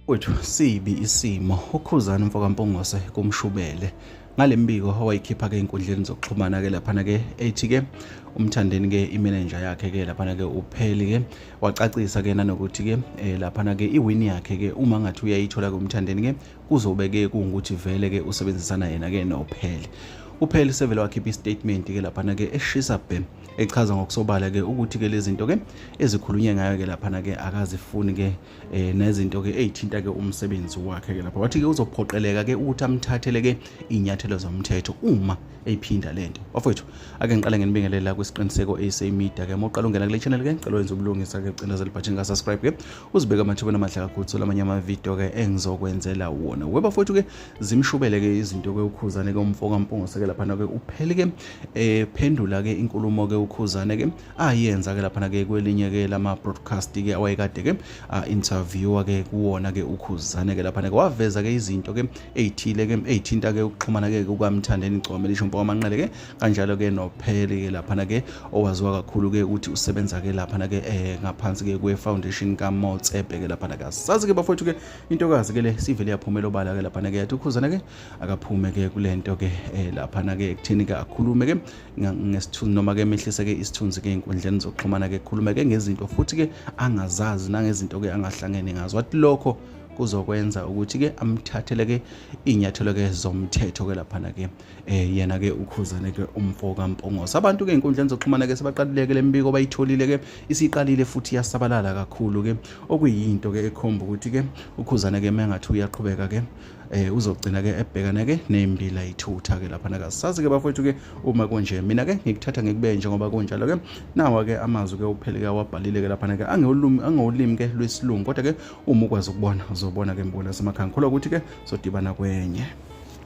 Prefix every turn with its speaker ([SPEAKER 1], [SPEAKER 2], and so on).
[SPEAKER 1] Wethu sibi isimo ukhuzana mfokampongose kumshubele ngale mbiko owayikhipha ke inkundleni zokuxhumana ke laphana ke ethi ke umthandeni ke imanager yakhe ke laphana ke upheli ke wacacisa ke nanokuthi ke eh, laphana ke iwin yakhe ke uma ngathi uyayithola ke umthandeni ke kuzobe ke kungukuthi vele ke usebenzisana yena ke nophele uphele sevele wakhipha istatement ke laphana ke eshisa bhe echaza ngokusobala ke ukuthi ke lezinto ke ezikhulunywe ngayo ke laphana ke akazifuni ke eh, nezinto ke ezithinta ke umsebenzi wakhe ke lapha wathi ke uzophoqeleka ke ukuthi amthathele ke inyathelo zomthetho uma eyiphinda lento bafowethu ake ngiqale ngenibingelela kwisiqiniseko AC Media ke moqala ungena kule channel ke ngicela wenze ubulungisa ke cindezela ibhathini ka subscribe ke uzibeka amathubeni amahle kakhulu thola amanye amavidiyo ke engizokwenzela wona weba futhi ke zimshubele ke izinto ke ukhuzane ke umfo kampungo seke laphana ke uphele ke ephendula eh, ke inkulumo ke ukhuzane ke ayenza ah, ke laphana ke kwelinye ke lama broadcast ke awayekade ke ah, interview ke kuwona ke ukhuzane ke laphana ke waveza ke izinto ke ezithile ke ezithinta ke ukuxhumana ke kukamthandeni gcome lisho umfo kamanqele ke kanjalo ke nophele ke laphana ke owaziwa kakhulu ke ukuthi usebenza ke laphana ke eh ngaphansi ke kwe foundation ka Motsepe ke laphana ke sazi ke bafowethu ke intokazi ke le sivele yaphumela obala ke laphana ke yathi ukhuzana ke akaphume ke kulento ke eh laphana ke kuthini ke akhulume ke ngesithunzi noma ke mehlise ke isithunzi ke inkundleni zokuxhumana ke khulume ke ngezinto futhi ke angazazi nangezinto ke angahlangene ngazo wathi lokho kuzokwenza ukuthi-ke amthathele-ke iy'nyathelo-ke zomthetho-ke laphana-ke eh yena ke ukhuzane ke umfo kaMpongose abantu ke inkundla zokuxhumana ke sebaqalileke lembiko bayitholile ke isiqalile futhi yasabalala kakhulu ke okuyinto ke ekhomba ukuthi ke ukhuzane ke mengathi uyaqhubeka ke eh uzogcina ke ebhekana ke nembila ithutha ke lapha naka sazi ke bafowethu ke uma konje mina ke ngikuthatha ngikube njengoba kunjalo ke nawa ke amazwi ke uphele ke wabhalile ke lapha naka angewulimi angewulimi ke lwesilungu kodwa ke uma ukwazi ukubona uzobona ke mbona semakhaya ngikholwa ukuthi ke sodibana kwenye